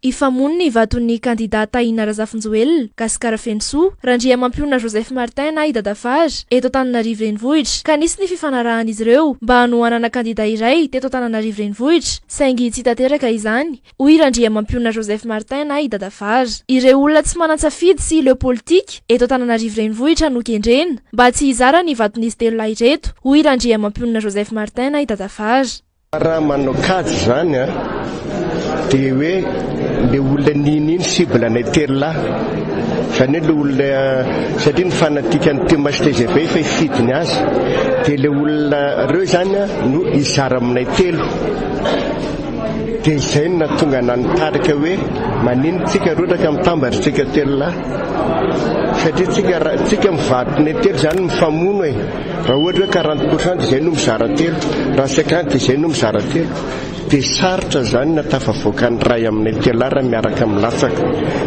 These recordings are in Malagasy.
Hifamono ny vaton'ny kandidà Tahina Razafinjoelina, Gasikara Fenosoa, Randriamampionona Joseph Martin na i Dadafar, eto Antananarivo Renivohitra, ka nisy ny fifanarahan'izy ireo mba hanohanana kandidà iray teto Antananarivo Renivohitra, saingy tsy tanteraka izany, hoy Randriamampionona Joseph Martin na i Dadafar. Ireo olona tsy manan-tsafidy sy leo politika eto Antananarivo Renivohitra no kendrena mba tsy hizara ny vaton'izy telo lahy ireto, hoy Randriamampionona Joseph Martin na i Dadafar. Raha manao kajy izany an, dia hoe ilay olona nino iny cible anay telo lahy, izany hoe ilay olona, satria ny fanatikan'i Thomas tgv efa hifidy ny azy, dia ilay olona ireo izany an no hizara aminay telo, dia izay no nahatonga anah nitarika hoe maninona tsika roa raka mitambatra tsika telo lahy, satria tsika, tsika mivarotra ny telo izany mifamono e. Raha ohatra hoe quarante pour cent dia izay no mizara telo, raha cinquante dia izay no mizara telo. Dia sarotra izany na tafavoaka ny iray aminay tela raha miaraka milatsaka.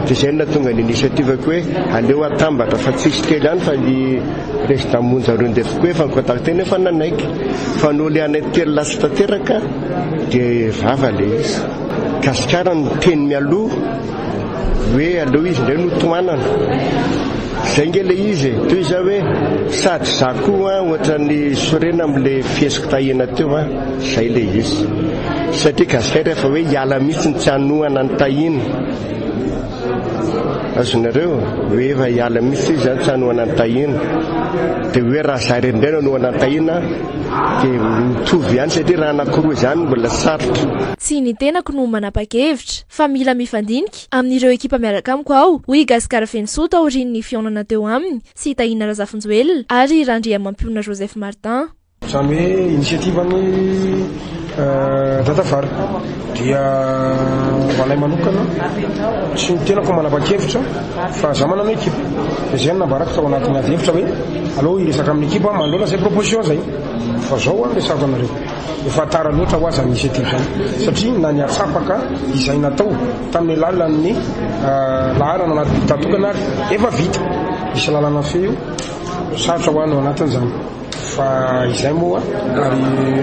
Dia izay no nahatonga ny initiative-ko hoe aleo atambatra fa tsy hisy telo ihany fa i Président Monja Rundef koa efa ni-contacter nefa nanaiky. Fa noho ilay anay telo lasa tanteraka dia rava ilay izy. Gasikara no teny mialoha. Hoe aleo izy indray no tohanana. Izay nge le izy e. Toy izay hoe sady za koa an, ohatran'ny sorena amin'le fihesiko tahiana teo an. Izay le izy. Satria gasikay rehefa hoe hiala mihitsy ny tsy hanohana ny tahiana. Azonareo? Hoe efa hiala mihitsy izy an, tsy hanohana ny tahiana. Dia hoe raha za irery indray no hanohana ny tahiana dia mitovy ihany satria raha anankiroa izany mbola sarotra. Tsy ny tenako no manapa-kevitra. fa mila mifandinika amin'ireo ekipa miaraka amiko aho, hoy i Gascar Fenosoa taorian'ny fihaonana teo aminy sy i Tahina Razafinjoelina ary i Randriamampiona Joseph Martin. Izany hoe initiative-n'i Dadavary dia ho anay manokana sy ny tenako manapa-kevitra fa izaho manana ekipa. Dia izay no nambarako tao anatin'ny ady hevitra hoe aleo hiresaka amin'ny ekipa aho manoloana izay proposition izay fa izao aho no resahako anareo. Ho fa tara loatra ho aza ny hisetra izany, satria na ny hatsapaka izay natao tamin'ny alalan'ny laharana anaty dictat tokana ary efa vita. Misy lalana feo io, sarotra ho an'ny ao anatin'izany fa izay moa ary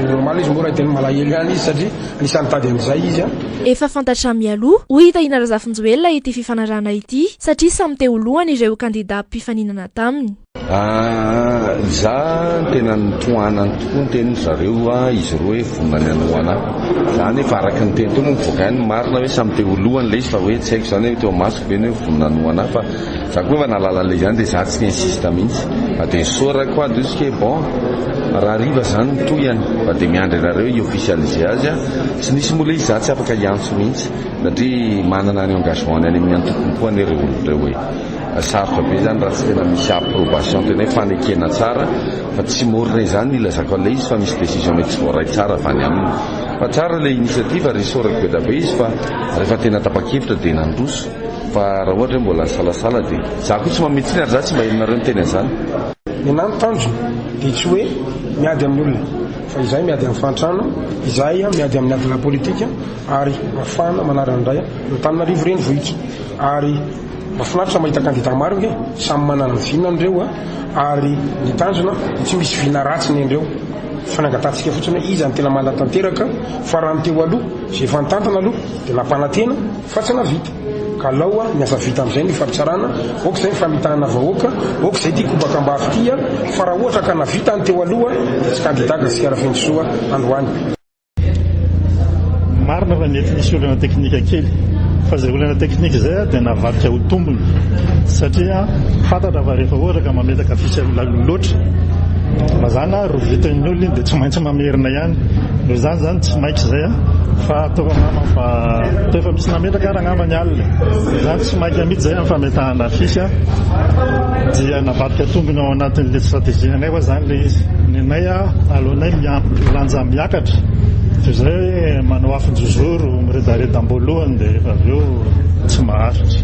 normal izy moa raha tena malahelo ihany izy satria anisan'ny nitady an'izay izy a. Efa fantatra mialoha, hoy i Tahina Razafinjoelina ity fifanarahana ity satria samy te ho lohany ireo kandida mpifaninana taminy. Za tena nitohanany tokoa ny tenin-dry zareo izy roa hoe vonona ny hanao anah. Za nefa araka ny teny teo moa mivoaka ihany ny marina hoe samy teo lohany ilay izy fa hoe tsy haiko izany hoe teo amasoko ve ny hoe vonona ny ho anah fa za koa efa nahalala an'ilay izy ihany dia za tsy ni-insiste mihitsy fa dia saura quoi de ce que bon raha hariva izany ny tohiny fa dia miandry anareo hi-officialiser azy an! Tsy nisy moa ilay izy za tsy afaka hiantso mihitsy satria manana ny engagement-ny any amin'ny antokony koa anie ireo olona ireo e! Sarotra be izany raha tsy tena misy approbation tena hoe fanekena tsara fa tsy mora re izany ilazako an'ilay izy fa misy décision mety tsy voaray tsara avy any aminy. Fa tsara ilay initiative ry Soa Reko be dia be izy fa rehefa tena tapa-kevitra dia nandroso fa raha ohatra hoe mbola nisalasala dia izaho koa tsy mamintsy intsony ary izaho tsy mba henonareo niteny an'izany. Ny anà ny tanjona dia tsy hoe miady amin'ny olona fa izahay miady amin'ny fahantrana, izahay miady amin'ny adina politika ary ahafahana manarina indray an'Antananarivo renivohitra ary. Mafinaritra mahita kandida maro nge, samy manana ny vinany reo a, ary ny tanjona de tsy misy vina ratsy nendreo, fanangatantsika fotsiny hoe iza no tena manatanteraka, fa raha ny teo aloha ze efa nitantana aloha de nampanantena fa tsy navita, ka alao a ny asa vita amzay no ifampitsarana, ok zay ny famitahana vahoaka, ok zay ty kobaka ambavy ty a, fa raha ohatra ka navita ny teo aloha de tsy kandida Gasikara Fenosoa androany. Marina fa mety nisy olana teknika kely fa izay olana teknika izay dia navadika ho tombony satria fantatra fa rehefa ohatra ka mametaka affiche lalina loatra mazana ary rovitan'ny olona iny dia tsy maintsy mamerina ihany noho izany izany tsy mainka izay a fa ataoko angamba fa toa efa misy nametraka ary angamba ny alina izany tsy mainka mihitsy izay amin'ny fametahana affiche dia navadika tombony ao anatin'ilay stratégie anay Efa zany le izy, ny anay aleonay milanja miakatra toy izay hoe manao afon-jozoro miredareda am-boalohany dia rehefa avy eo tsy maharitra.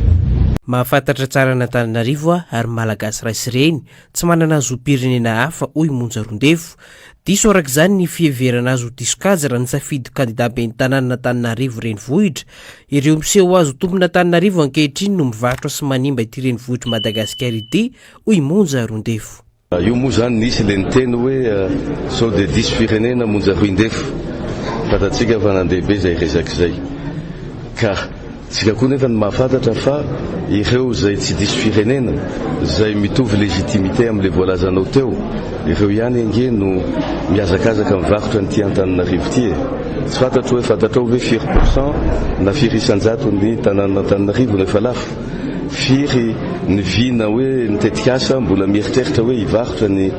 Mahafantatra tsara an'Antananarivo aho ary Malagasy ray sy reny, tsy manana zom-pirenena hafa, hoy i Monja Roandefo. Diso araka izany ny fiheverana azy ho diso kajy raha nisafidy ho kandidà ben'ny tanànan'Antananarivo renivohitra. Ireo miseho ho azo tompon'Antananarivo ankehitriny no mivarotra sy manimba ity renivohitr'i Madagasikara ity, hoy i Monja Roandefo. Io moa izany nisy ilay niteny hoe sao dia diso firenena monja hoindefo. Fantatsika fa nandeha be izay resaka izay. Ka tsika koa nefa ny mahafantatra fa ireo izay tsy diso firenena, izay mitovy légitimité amin'ilay voalazanao teo, ireo ihany ange no mihazakazaka mivarotra an'ity Antananarivo ity e. Tsy fantatro hoe fantatrao ve firy pourcent na firy isan-jaton'ny tanànan'Antananarivo no efa lafo? Firy ny vina hoe ny tetikasa mbola mieritreritra hoe hivarotra ny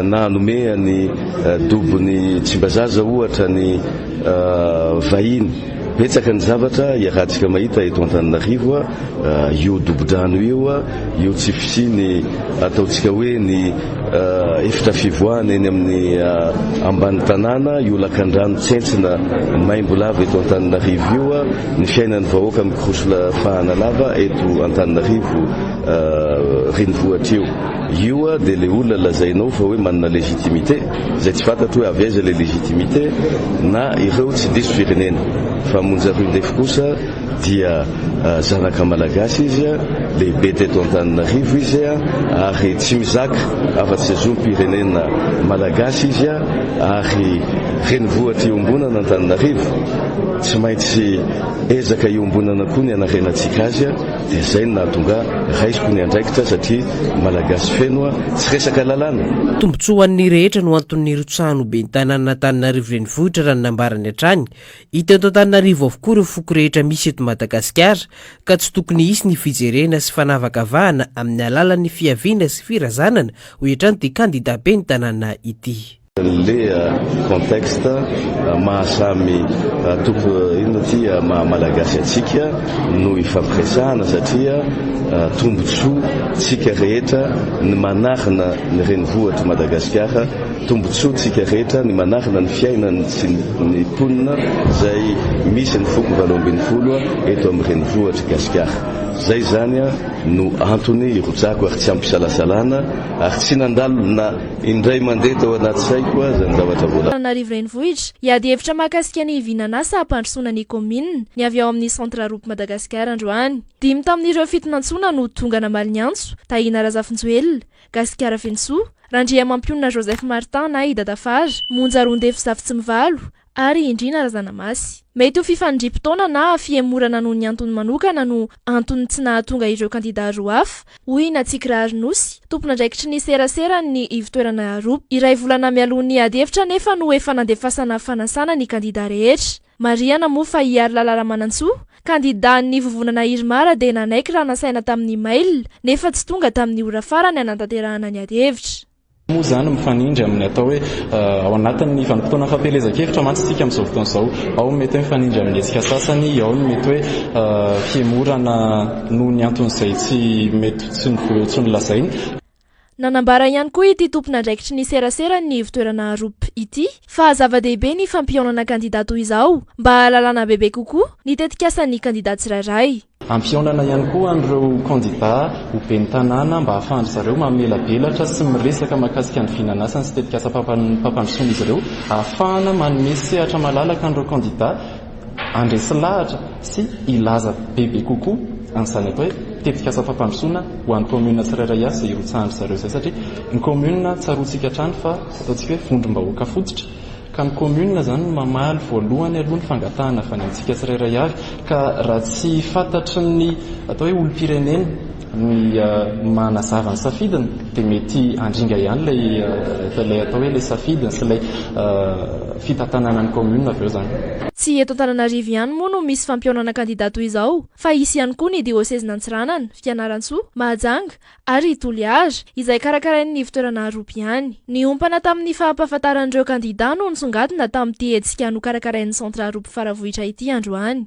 na hanome an'i Dobon'i Tsimbazaza ohatra ny vahiny. Betsaka ny zavatra iarahantsika mahita eto Antananarivo, io dobo-drano io, io tsy fisian'ny ataontsika hoe ny Efitra fivoahana eny amin'ny ambany tanàna io lakandrano tsentsina maimbo lava eto Antananarivo io. Ny fiainan'ny vahoaka mikoroso la fahana lava eto Antananarivo renivohitra io. Io dia ilay olona lazainao fa hoe manana légitimité, izay tsy fantatro hoe avy aiza ilay légitimité, na ireo tsy diso firenena. Fa monja rue ndefo kosa. dia zanaka malagasy izy, lehibe teto Antananarivo izy ary tsy mizaka afa-tsy zom-pirenena malagasy izy ary renivohitra iombonana Antananarivo, tsy maintsy ezaka iombonana koa ny hanarenantsika azy, dia izay no nahatonga raisiko ny andraikitra satria malagasy feno, tsy resaka lalàna. Tombontsoa ho an'ny rehetra no anton'ny nirotsahan'ny ho ben'ny tanànan'Antananarivo renivohitra raha ny nambarany hatrany, Hita eto Antananarivo avokoa ireo foko rehetra misy eto Madagasikara ka tsy tokony hisy ny fijerena sy fanavakavahana amin'ny alalan'ny fiaviana sy firazanana, hoy hatrany ity kandida ben'ny tanàna ity. Le contexte maha samy toko inona ity maha malagasy antsika no ifampiresahana satria tombotsoa tsika rehetra ny manarina ny renivohitr'i Madagasikara. Tombontsoa tsika rehetra ny manakana ny fiainany sy ny mponina zay misy ny foko valo ambin'ny folo eto amin'ny renivohitry Gasikara. Zay zany no antony hirotsako ary tsy ampisalasalana ary tsy nandalo na indray mandeha tao anaty saiko zany zavatra voalaza. Antananarivo Renivohitra, hiady hevitra mahakasika ny hivinan'asa hampandrosoana ny kaominina ny avy ao amin'ny Centre Roupes Madagascar androany. Dimy tamin'ireo fitonantsoana no tonga namaly ny antso, Tahina Razafinjoelina, Gasikara Fenosoa, Randriamampionona Joseph Martin na i Dadafara, Monja Rondefy Zafitsimbivalo, ary i Ndriana Razanamasy. Mety ho fifandriam-potoana na fihemorana noho ny antony manokana no anton'ny tsy nahatonga ireo kandidà roa hafa, hoy i Natsikirary Nosy, tompon'andraikitry ny seraseran'ny ivontoerana Arup. Iray volana mialoha ny adihevitra anefa no efa nandefasana fanasana ny kandidà rehetra. Marihana moa fa i Harilala Ramanantsoa, kandidan'ny vovonana Irmar dia nanaiky raha nasaina tamin'ny mail, nefa tsy tonga tamin'ny ora farany hanatanterahana ny adihevitra. Moa izany mifanindry amin'ny atao hoe ao anatin'ny vanim-potoana fampielezan-kevitra mantsy isika amin'izao fotoana izao. Ao ny mety hoe mifanindry amin'ny hetsika sasany, ao ny mety hoe fihemorana noho ny anton'izay tsy mety tsy ho nolazaina. Nanambara ihany koa ity tompon'andraikitry ny serasera ny ivontoerana Arup ity fa zava-dehibe ny fampihaonana kandida toy izao mba hahalalana bebe kokoa ny tetikasan'ny kandida tsirairay. Ampihaonana ihany koa an'ireo kandida ho ben'ny tanàna mba hahafahan-dry zareo mamelabelatra sy miresaka mahakasika ny vinanasany sy tetikasam-pampandrosoan'izy ireo, ahafahana manome sehatra malalaka an'ireo kandida. Handresy lahatra sy hilaza bebe kokoa an'izany atao hoe tetikasa fampandrosoana ho an'ny kaominina tsirairay avy izay hirotsahan-dry zareo izay satria ny kaominina tsaroantsika hatrany fa ataontsika hoe vondrom-bahoaka fototra ka ny kaominina izany no mamaly voalohany aloha ny fangatahana avy any amintsika tsirairay avy ka raha tsy fantatry ny atao hoe olom-pirenena ny maha nazava ny safidiny dia mety handringa ihany ilay ilay atao hoe ilay safidiny sy ilay fitantanana ny commune avy eo izany. Tsy eto Antananarivo ihany moa no misy fampihaonana kandida toy izao fa hisy ihany koa ny diosezin'Antsiranana, Fianarantsoa, Mahajanga ary Toliara izay karakarain'ny ivontoerana Aroby ihany. Niompana tamin'ny fahampahafantaran'ireo kandida no nisongadina tamin'ity hetsika nokarakarain'ny centre Aroby Faravohitra ity androany.